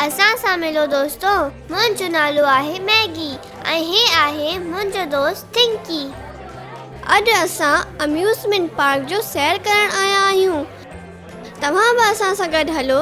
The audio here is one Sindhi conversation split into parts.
اسان سان ملو دوستو منهنجو نالو آهي ميگي ۽ هي آهي منهنجو دوست ٿنڪي اڄ اسان اميوزمينٽ پارڪ جو سير ڪرڻ آيا آهيون توهان به اسان سان گڏ هلو.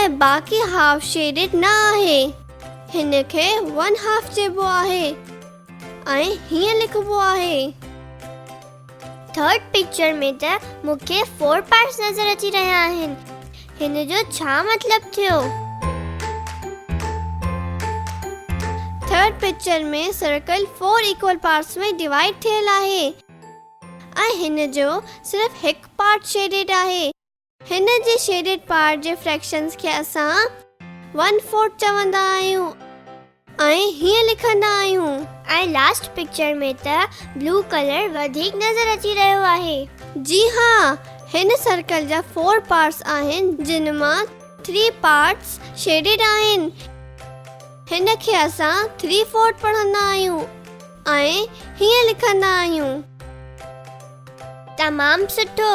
۽ باقي هاف شيڊڊ نه آهي هن کي ون هاف چئبو آهي ۽ هيئن لکبو آهي ٿرڊ پڪچر ۾ ته مون کي فور پارٽس نظر اچي رهيا آهن هن جو ڇا مطلب ٿيو third picture ۾ circle four equal parts ۾ divide ٿيل آهي ۽ هن جو صرف هڪ پارٽ شيڊيڊ آهي هن جي شيڊڊ پارٽ جي فريڪشنز کي اسان ون فورٿ چوندا آهيون ۽ هيئن لکندا آهيون. ۽ لاسٽ پڪچر ۾ ته بلو ڪلر وڌيڪ نظر اچي رهيو آهي. جي ها، هن سرڪل جا فور پارٽس آهن جن مان ٿري پارٽس شيڊڊ آهن. هن کي اسان ٿري فورٿ پڙهندا آهيون ۽ هيئن لکندا آهيون. تمام سٺو.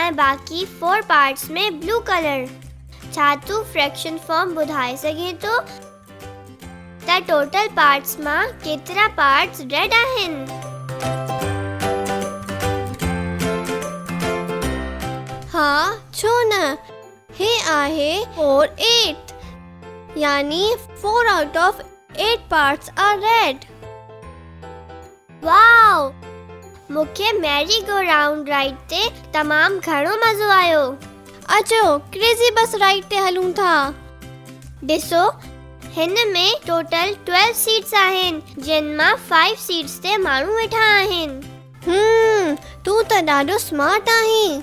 ۽ باقي فور پارٽس ۾ بلو ڪلر ڇا تون فريڪشن فارم ٻڌائي سگهين ٿو ته ٽوٽل پارٽس مان ڪيترا پارٽس ريڊ آهن ها ڇو نه هي آهي 4 8 يعني 4 out of 8 parts are red واء مون کي ميري گو رائونڊ رائيڊ تي تمام گهڻو مزو آيو. اچو ڪريزي بس رائيڊ تي هلون ٿا. ڏسو هن ۾ ٽوٽل ٽويلو سيٽس آهن جن مان فائيو سيٽس تي ماڻهو ويٺا آهن. هوم تون ته ڏاڍو سمارٽ آهين.